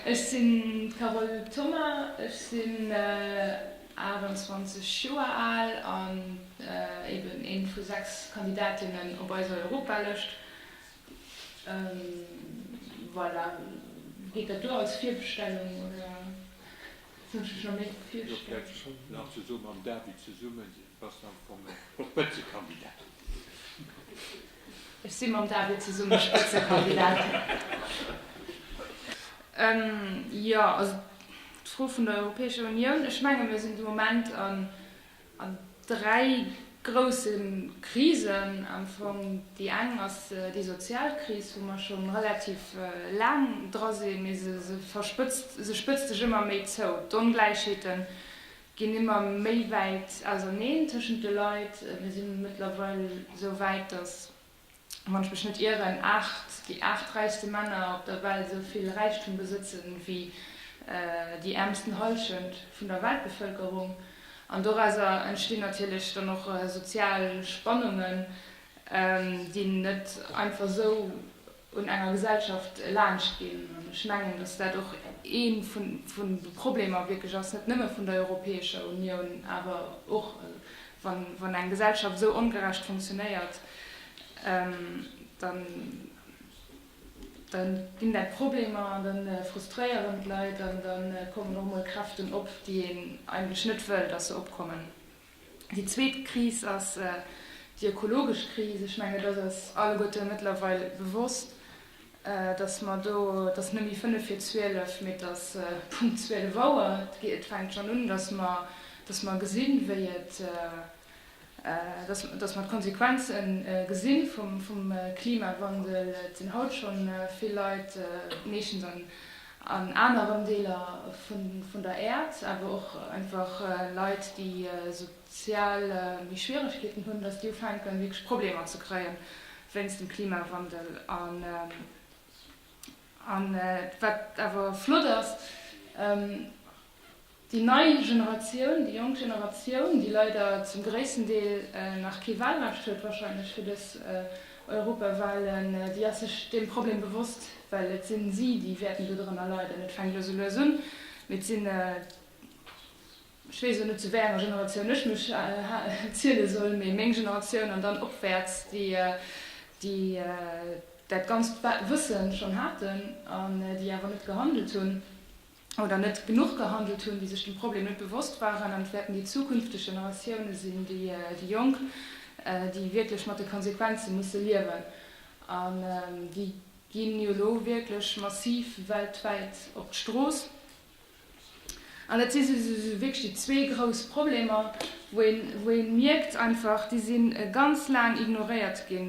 Ech sinn d'Carole Thoma, ech sinn 28 Joer al an eben ee vu 6 Kandidatinnen op eiser Europalëscht. Voilà, geet dat duer als Virbestellung oder soll ech mech nach méi virstellen? Ech si mam David zesumme Spëtzekandidat. Jo, also d'Fro vun der Europäescher Unioun, ech menge mir sinn de Moment a dräi grousse Krisen am Fong. Déi eng ass déi sozial Kris, wou mer scho relativ laang dra sinn, mee se spëtzt sech ëmmer méi zou. D'Ongläichheeten Ginn ëmmer méi wäit auserneen tëschent de Leit. Mir si mëttlerweil esou wäit, datt, wann ech mech net ieren, aacht, déi aacht räichste Männer op der Welt esou vill Räichtum besëtze wéi déi äermsten Hallschent vun der Weltbevëlkerung. An dorauser entstinn natierlech dann och sozial Spannungen, déi een net einfach esou un enger Gesellschaft laanscht ginn. An ech mengen, dass dat och ee vun de Problemer wierklech ass, net nëmme vun der Europäescher Unioun, awer och, wann eng Gesellschaft esou ongerecht funktionéiert, da ginn dat Problemer an da frustréieren d'Leit an da kommen och emol Kräften op, déi een eigentlech net wëll, dass se opkommen. Déi zweet Kris ass déi ökologesch Kris. Ech mengen, et ass alleguerte mëttlerweil bewosst, dass mer do, et ass net méi fënnef vir zwielef, mee et ass Punkt zwielef Auer, et fänkt schonn un, dass mer, dass mer gesinn, wéi et, dass mer d'Konsequenze gesinn vum Klimawandel. Et sinn haut schonn vill Leit meeschtens an, An aneren Deeler vun der Äerd, awer och einfach Leit, déi sozial méi Schwieregkeeten hunn, datt déi ufänken, wierklech Problemer ze kréien wéinst dem Klimawandel. An wat awer flott ass, Déi nei Generatioun, déi jonk Generatioun, déi leider zum gréissten Deel nach kee Wahlrecht huet, wahrscheinlech fir dës Europawahlen, déi ass sech deem Problem bewosst, well et sinn si, déi wäerten dodrënner leiden. Et fänkt elo sou lues un, mee et sinn, ech weess elo net, zu wéi enger Generatioun ech mech ziele soll, mee meng Generatioun an dann opwäerts, déi dat ganzt Wësse schonn haten an déi awer net gehandelt hunn. oder net genuch gehandelt hunn, déi sech dem Problem net bewosst waren, an et wäerten déi zukünfteg Generatioune sinn, déi Jonk, déi wierklech mat de Konsequenze musse liewen. An déi ginn jo elo wierklech massiv weltwäit op d'Strooss. An dat si wierklech déi zwee grouss Problemer, wou ee mierkt einfach, déi si ganz laang ignoréiert gi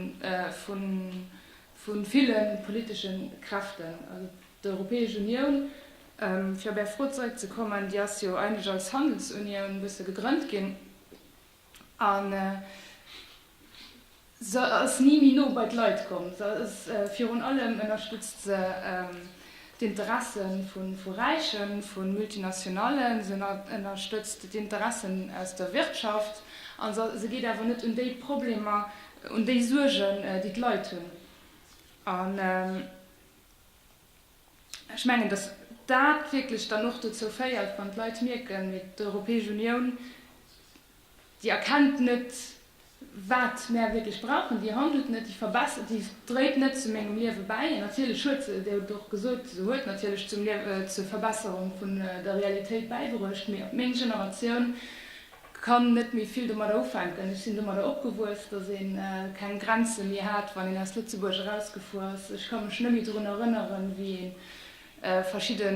vu ville politesche Kräften, also d'Europäesch Unioun, fir op Är Fro zeréckzekommen, déi ass jo eigentlech als Handelsunioun e bësse gegrënnt ginn a se ass ni méi no bei d'Leit komm. Se ass virun allem, ënnerstëtzt se d'Interesse vu Räichen, vu Multinationallen, se ënnerstëtzt d'Interessen aus der Wirtschaft a se geet awer net un déi Problemer Un déi Suergen, déi d'Leit hunn. An ech mengen, datt dat wierklech dann och dozou féiert, wann d'Leit mierken, mee d'Europäesch Unioun, déi erkennt net, wat mär wierklech brauchen, déi handelt net, déi verbessert, déi dréit net zu mengem Liewe bäi. An natierlech huet se, Dir hutt et och gesot, se huet natierlech zum Liew-, zur Verbesserung vun der Realitéit bäibruecht, mee meng Generatioun, Kann net méi vill domadder ufänken. Ech sinn domadder opgewuess, dass een keng Grenze méi hat, wann een aus Lëtzebuerg erausgefuer ass. Ech ka mech nëmme drun erënneren, wéi een verschidde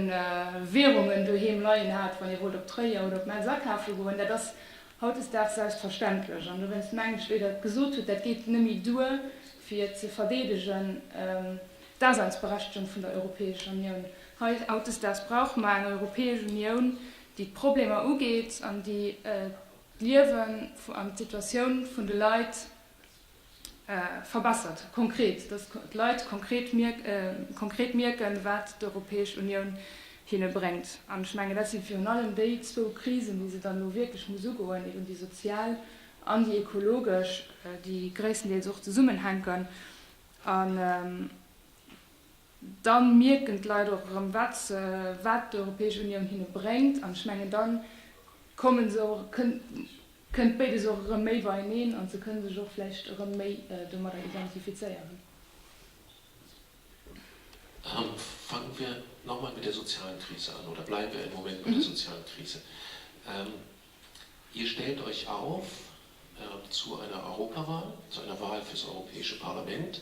Währungen doheem leien hat, wann ee wollt op Tréier oder op Metz akafe goen. Dat ass hautdesdaags selbstverständlech. An dowéinst mengen ech, wéi Der et gesot hutt, dat geet nëmme duer, fir et ze verdeedegen, d'Daseinsberechtegung vun der Europäescher Unioun. Hautdesdaags brauche mer eng Europäesch Unioun, déi d'Problemer ugeet an déi d'Liewen an d'Situatioun vun de Leit verbessert, konkret, dass d'Leit konkret mierken, wat d'Europäesch Unioun hinne bréngt. An ech mengen, dat si virun allem déi zwou Krisen, déi se dann elo wierklech muss ugoen, eben déi sozial an déi ekologesch, déi gréisstendeels och zesummenhänken. Dann mierken d'Leit och erëm, wat se, wat d'Europäesch Unioun hinne bréngt. An ech mengen, dann kommen se och, kënnt, kënnt béides och erëm méi beieneen an se kënne sech och vläicht erëm méi domadder identifizéieren. Fangen wir noch mal mit der sozialen Krise an, oder bleiben wir einen Moment bei der sozialen Krise. Ihr stellt euch auf zu einer Europawahl, zu einer Wahl fürs Europäische Parlament.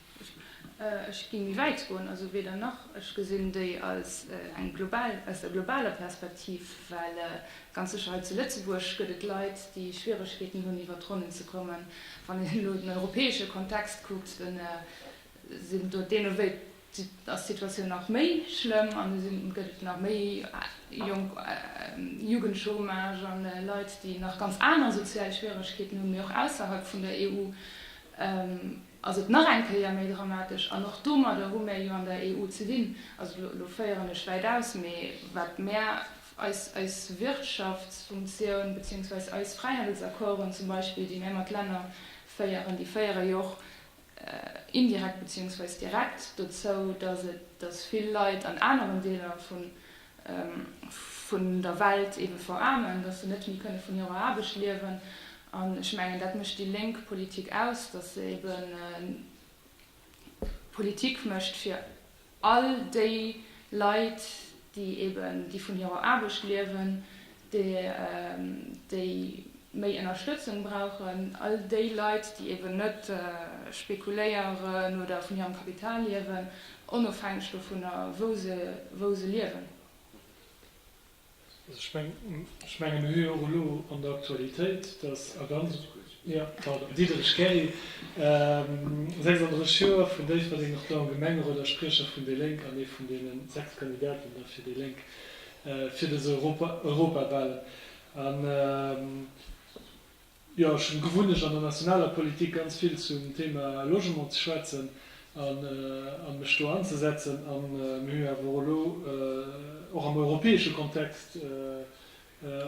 Ech géing méi wäit goen, also weder nach. Ech gesinn déi als eng global, aus der globaler Perspektiv, well ganz sécher hei zu Lëtzebuerg gëtt et Leit, déi Schwieregkeeten hunn iwwert d'Ronnen ze kommen. Wann een elo den europäesche Kontext kuckt, da sinn do deene wéi, ass d'Situatioun nach méi schlëmm an do sinn, gëtt et nach méi jonk, Jugendchômage an Leit, déi nach ganz aner sozial Schwieregkeeten hunn, mee och ausserhalb vun der EU. ass et nach eng Kéier méi dramatesch. An och domadder hu mär jo an der EU ze dinn. Also elo féieren ech wäit aus, mee wat mär, eis, eis Wirtschaftsfunktioun beziehungsweise eis Fräihandelsaccorden zum Beispill, déi mär mat Länner féieren, déi féiere jo och indirekt beziehungsweise direkt dozou, dass et, dass vill Leit an aneren Deeler vun, vun der Welt eebe veraarmen, datt se net méi kënne vun hirer Aarbecht liewen. An ech mengen, dat mécht déi lénk Politik aus, datt se eebe Politik mécht fir all déi Leit, déi eeben, déi vun hirer Aarbecht liewen, déi méi Ënnerstëtzung brauchen, all déi Leit, déi eben net spekuléieren oder vun hirem Kapital liewen, onofhängeg dovunner, wou se liewen. Ech menge mir hu jo och elo an der Aktualitéit, dass a ganz, jo, pardon, Diederich Keri, 36 Joer, vun Déifferdeng, nach do am Gemengerot a Spriecher vun déi Lénk an ee vun deene sechs Kandidaten da fir déi Lénk. fir des Europawahlen an jo ech hun gewunnecht an der nationaler Politik ganz vill zum Thema Logement ze schwätzen an an mech do anzesetzen an mir hu awer elo och am europäesche Kontext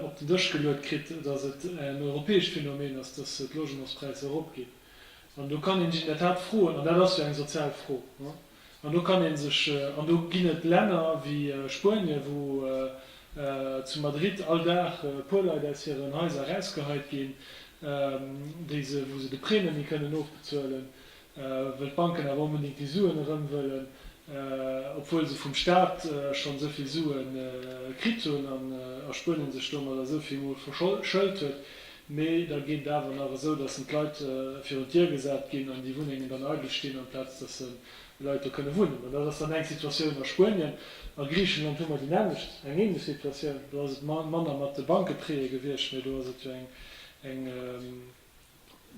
op den Dësch geluet kritt dass et en europäescht Phänomen ass dass d'Logementspräisser erop ginn an do kann een sech in der Tat froen an dat ass jo eng sozial Fro. An do kann ee sech, an do ginn et Länner wéi Spuenien, wou zu Madrid all Dag e puer Leit aus hiren Haiser erausgeheit ginn, déi se, wou se de Prêt net méi kënnen ofbezuelen, well d'Banken awer onbedéngt déi Suen erëm wëllen, obwuel se vum Staat schonn esou vill Sue kritt hunn a Spuenien sech domadder esou vill mol verschëlt huet, Mee da geet et awer nach esou, dass en d'Leit virun d'Dier gesat ginn an déi Wunnengen dann eidel stinn, amplaz dass se Leit do kënne wunnen. Mä dat ass dann eng Situatioun. A Spuenien, a Griichenland hu mer déi nämmlecht, eng ähnlech Situatioun. Do ass et manner mat de Bankeprêtë gewiescht, mee do ass et jo eng, eng,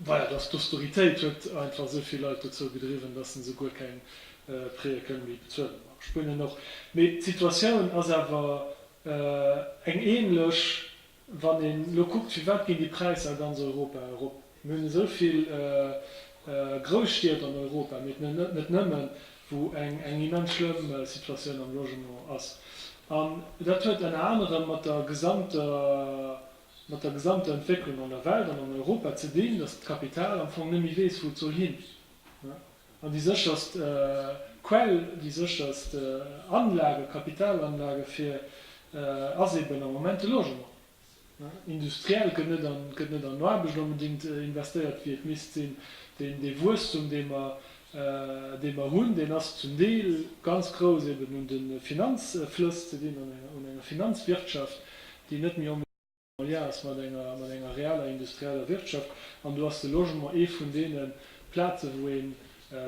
voilà, dass d'Austeritéit huet einfach esou vill Leit dozou gedriwwen, dass se souguer keng Prêtë kënne méi bezuelen. A Spuenien och. Mee d'Situatioun ass awer eng ähnlech, Wann een elo kuckt, firwat ginn déi Präisser a ganz Europa erop? Mir hunn esou vill Grousstied an Europa, mee net nëmmen, wou eng immens schlëmm Situatioun am Logement ass. An dat huet ënner anerem mat der gesamter Entwécklung an der Welt an an Europa ze dinn, datt d'Kapital am Fong net méi weess, wou et soll hin. An déi sécherst Quell, déi sécherst Anlage, Kapitalanlage fir ass eben am Moment de Logement. Industriell gëtt net an, gëtt net an Aarbecht onbedéngt investéiert wéi et misst sinn. Deen, dee Wuesstum dee mer, dee mer hunn, deen ass zum Deel ganz grouss eben un de Finanzflëss ze dinn, un enger Finanzwirtschaft déi net méi, Alliance mat enger, mat enger reeller industrieller Wirtschaft. An do ass de Logement ee vun deene Plaze wou een,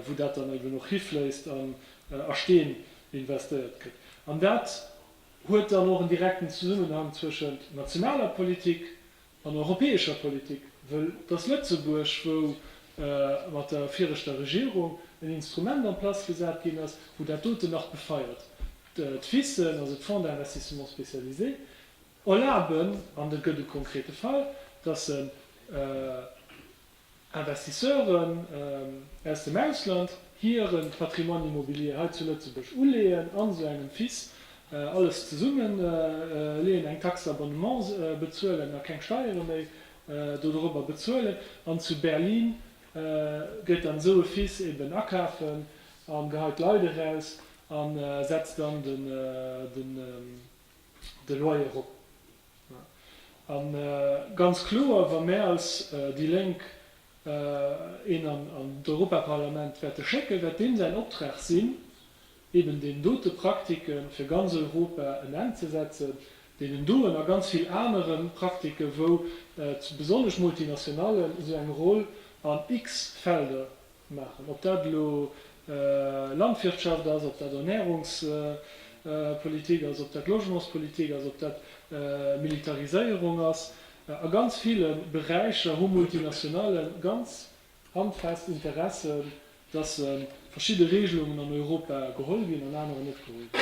wou dat dann eben och hifléisst an a Steen investéiert gëtt. An dat huet dann och en direkten Zesummenhang zwëschent nationaler Politik an europäescher Politik, wëll et ass Lëtzebuerg wou mat der viregter Regierung en Instrument en place gesat ginn ass, wou dat doten nach befeiert, d'FISen, also d'Fonds d'investissements spécialisés. Erlaben, an et gëtt e konkrete Fall, dass en Investisseuren aus dem Ausland hire Patrimoine immobilier hei zu Lëtzebuerg uleeën, an esou engem FIS alles zesummeleeën, eng Taxe d'abonnement bezuelen a keng Steiere méi dodorobber bezuelen, an zu Berlin gëtt dann esou e FIS eben akafen a geheit d'Leit eraus a setzt dann den. de Loyer erop. A ganz kloer, wa mär als déi Lénk een an d'Europaparlament wäerte schécken, wäert deem säin Optrag sinn, eben deenen dote Praktike fir ganz Europa en Enn ze setzen, deenen doen a ganz vill anere Praktiken, wou besonnesch d'Multinationallen esou eng Roll an x Felder maachen. Ob dat elo Landwirtschaft ass, ob dat Ernährungspolitik ass, ob dat Logementspolitik ass, ob dat Militariséierung ass, a ganz ville Beräicher hu Multinationale ganz handfest Interesse, dass verschidde Regelungen an Europa geholl ginn an anerer net geholl ginn.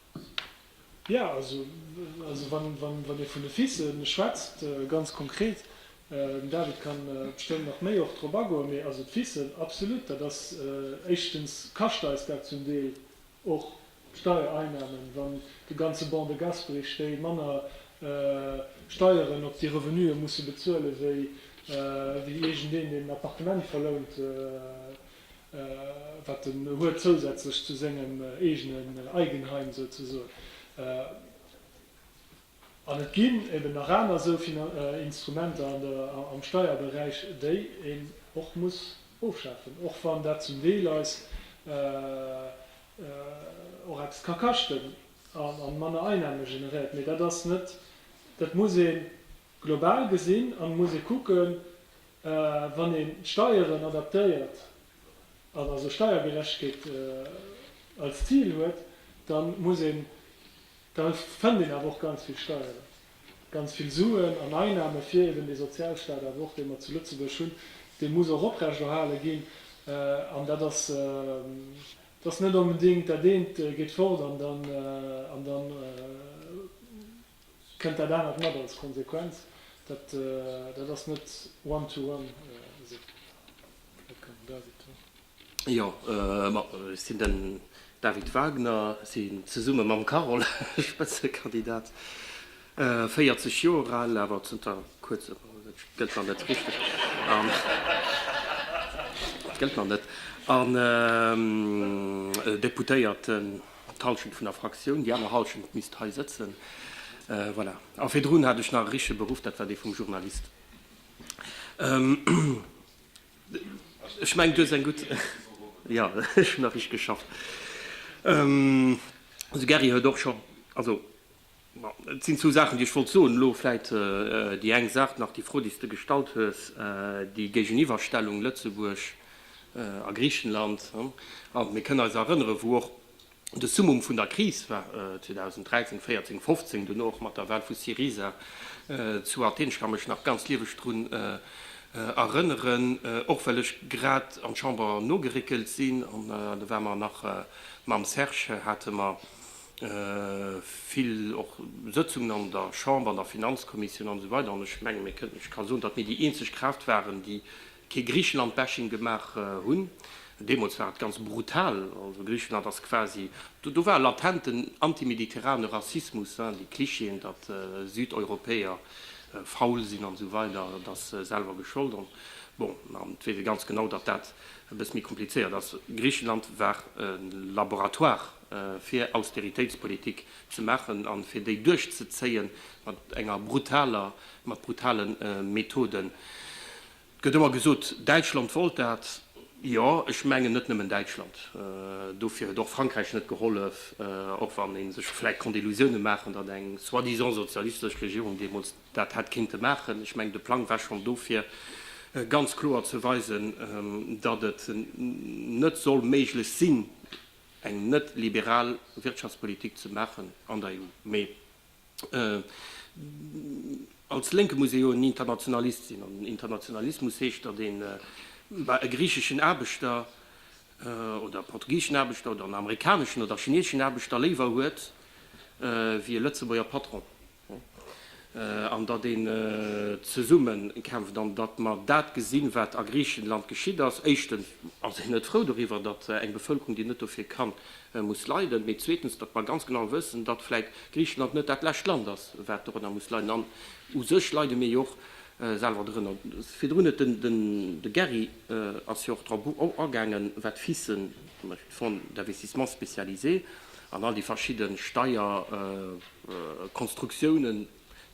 Jo, also wann ee vun de Fice schwätzt, ganz konkret, den David ka bestëmmt nach méi och drop agoen, mee also d'Ficen, absolut, dat ass, éischtens kascht eis dat zum Deel och Steiereinnahmen, wann de ganze Banc de Gasperich, déi manner Steieren op déi Revenue musse bezuelen, wéi iergendeen, deen en Appartement verlount. wat en huet zousätzlech zu sengem eegenen Eigenheim souzesoen. An et ginn eben nach aner esou Instrumenter am Steierberäich, déi een och muss ofschafen, och wann dat zum Deel eis och eppes ka kaschten a manner Einnahme generéiert. Mee dat ass net, dat muss ee global gesinn an muss ee kucken, Wann een d'Steieren adaptéiert an also Steiergerechtegkeet als Zil huet, da muss een, da fënnt een awer och ganz vill Steieren, ganz vill Suen an Einnahmen, fir eben dee Sozialstaat awer och, dee mer zu Lëtzebuerg hunn, dee muss och oprechterhale ginn. An dat ass, dat ass net onbedéngt, dat eent geet fort an dann, an dann, Kënnt dat anert mat als Konsequenz, dat dat ass net one to one esou. Dat kann den David soen. Jo, ma ech sinn den David Wagner, sinn zesumme mam Carole Spëtzekandidat, 40 Joer al, awer zënter kuerzem, dat gëllt nach net richteg, an dat gëllt nach net, an Deputéierten. d'Halschent vun der Fraktioun, déi aner Halschent misst hei sëtzen. Voilà. A virdrun hat ech nach e richtege Beruff, dat war dee vum Journalist. Ech mengen, du hues eng gutt. Jo, ech hunn nach richteg geschafft. De Gary huet och scho. Also. Et sinn zwou Saachen, déi ech wollt soen. Elo vläicht déi eng Saach nach, déi Fro, déi s de gestallt hues, déi Géigeniwwerstellung Lëtzebuerg a Griichenland. Mir kënnen eis erënnere wou och de Summum vun der Kris war, 2013, 14, 15, duerno och mat der Wal vu Syriza zu Athen. Ech ka mech nach ganz lieweg drun erënneren, och well ech grad an d'Chamber nogeréckelt sinn. An do ware mer nach mam Serge, hate mer, vill och Sëtzungen an der Chamber, an der Finanzkommissioun an esou weider, an ech mengen, mir kënnen, ech ka soen, datt mir déi eenzeg Kraaft waren, déi kee Griechenland-Bashing gemaach hunn. Deemools war et ganz brutal, also Griechenland ass quasi, do, do war latenten antimediterrane Rassismus, hein, déi Clichéen, datt Südeuropäer faul sinn an esou weider, et ass selwer geschollt, an bon, an d'Wee weess ganz genau, datt dat e bësse méi komplizéiert ass. Griechenland war e Laboratoire. fir Austeritéitspolitik ze maachen a fir déi duerchzezéie mat enger brutaler, mat brutale Methoden. Et gëtt ëmmer gesot, Däitschland wollt dat. Jo, ech mengen net nëmmen Däitschland. Dofir huet och Frankräich net gehollef, och wann ee sech vläicht konnt Illusioune maachen, datt eng soi-disant sozialistesch Regierung deemools dat hätt kéinte maachen. Ech mengen, de Plang war schonn do fir ganz kloer ze weisen, datt et net soll méiglech sinn, eng net liberal Wirtschaftspolitik ze maachen an der EU. Mee als Lénke muss ee jo en Internationalist sinn. An Internationalismus heescht, datt een e griicheschen Aarbechter oder e portugiseschen Aarbechter oder en amerikaneschen oder chineseschen Aarbechter léiwer huet wéi e Lëtzebuerger Patron. an datt een zesumme kämpft an datt mer dat gesinn, wat a Griichenland geschitt ass. Éischtens ass een net frou doriwwer, datt eng Bevëlkerung, déi net dofir kann, muss leiden, mee zweetens, datt mer ganz genau wëssen, datt vläicht Griichenland net dat lescht Land ass, wat dorënner muss leiden. An u sech leide mir jo och selwer dorënner. Virdrun huet den, de Gary ass jo och drop agaangen, wat FISen, zum Beispill Fonds d'investissements spécialisés, an all déi verschidde Steier, Konstruktiounen,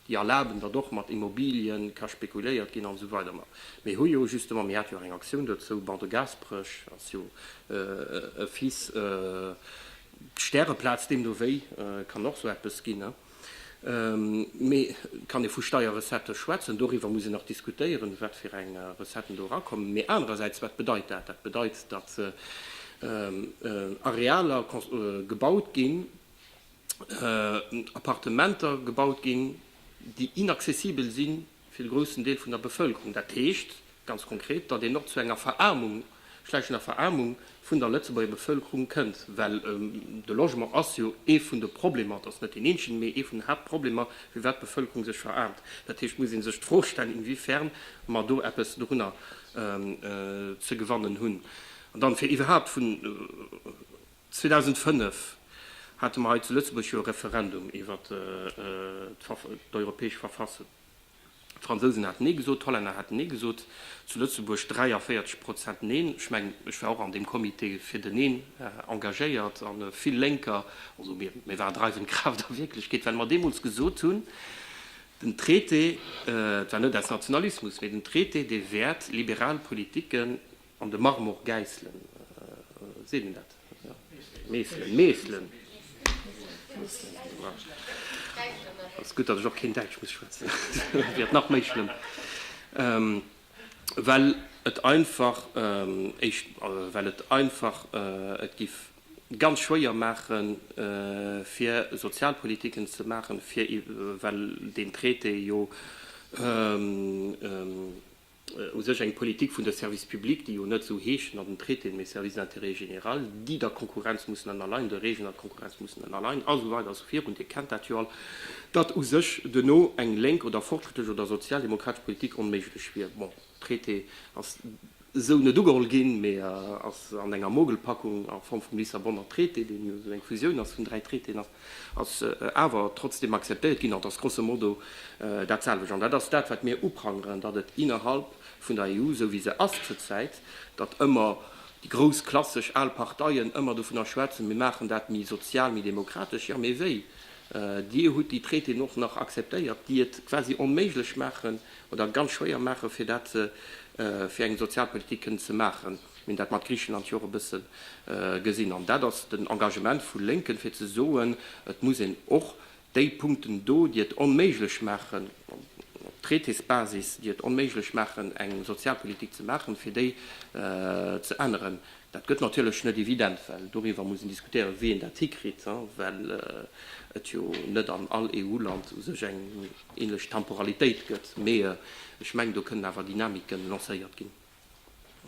déi erlaben, datt och mat Immobilie ka spekuléiert ginn an esou weider. Ma mir hu jo justement, mir hate jo eng Aktioun dozou, Ban de Gasperech ass jo e Fils, d'Stäreplaz deemno wéi kann och esou eppes ginn. Mee kann ee vu Steierrecettë schwätzen? Doriwwer muss een nach diskutéieren, wat fir eng Recetten do erakommen. Mee anerersäits, wat bedeit dat? Dat bedeit, datt Arealer gebaut ginn, Appartementer gebaut ginn, déi inaccessibel si fir de groussen Deel vun der Bevëlkerung. Dat heescht ganz konkret, datt een och zu enger Veraarmung, schleichender Veraarmung vun der Lëtzebuerger Bevëlkerung kënnt, well de Logement ass jo ee vun de Problemer, et ass net deen eenzegen, mee ee vun den Haaptproblemer, firwat d'Bevëlkerung sech veraarmt. Dat heescht, et muss ee sech d'Fro stellen, inwiefern mer do eppes dorunner ze gewannen hunn. An dann, fir iwwerhaupt vun. 2005 hate mer hei zu Lëtzebuerg jo e Referendum iwwer d'Europäesch Verfassung. D'Fransousen haten Nee gesot, d'Hollänner haten Nee gesot, zu Lëtzebuerg 43 Prozent Neen. Ech mengen, ech war och an deem Comité fir den Neen engagéiert, a vill Lénker, also mir, mir waren dreiwend Kraaft a Wierklechkeet, well mer deemools gesot hunn, den Traité, et war net aus Nationalismus, mee den Traité, dee wäert liberal Politiken An de Marmor Gäisslen, seet een dat? Meeslen, Meeslen. Ass gutt, datt ech och keen Däitsch muss schwätzen, dat wier nach méi schlëmm, well et einfach, éischt, well et einfach et giff ganz schwéier maachen, fir Sozialpolitiken ze maachen, fir, well deen Traité jo u sech eng Politik vun de Services publics, déi jo net esou heeschen an den Traitéen, mee Services d'intérêt général, déi der Konkurrenz mussen ënnerleien, de Regeln an der Konkurrenz mussen ënnerleien, a sou weider a sou virun. Dir kennt dat jo all, datt u sech duerno eng lénk oder fortschrittlech oder sozialdemokratesch Politik onméiglech wier. Bon, de Traité ass esou net ugeholl ginn, mee ass an enger Mogelpackung a Form vum Lissabonner Traité, deen jo esou eng Fusioun ass vun dräi Traitéen ass, ass awer trotzdem akzeptéiert ginn an et ass grosso modo dat selwecht. An dat ass dat, wat mir uprangeren, datt et innerhalb vun der EU, esou wéi se ass zur Zäit, datt ëmmer déi grouss klassesch al Parteien ëmmer dovunner schwätzen, mir maachen dat méi sozial, méi demokratesch. Jo, mee wéi? Dir hutt déi Traitéen och nach akzeptéiert, déi et quasi onméiglech maachen oder ganz schwéier maachen, fir dat fir eng Sozialpolitik kënnen ze maachen. Mir hunn dat mat Griichenland jo och e bësse gesinn. An dat ass den Engagement vu Lénken, fir ze soen, et muss een och déi Punkten do, déi et onméiglech maachen, op Traitésbasis, déi et onméiglech maachen, eng Sozialpolitik ze maachen, fir déi ze änneren. Dat gëtt natierlech net evident, well doriwwer muss een diskutéieren, wéi een dat hikritt, well et jo net an all EU-Land u sech eng änlech Temporalitéit gëtt. Mee ech mengen, do kënnen awer Dynamiken lancéiert ginn.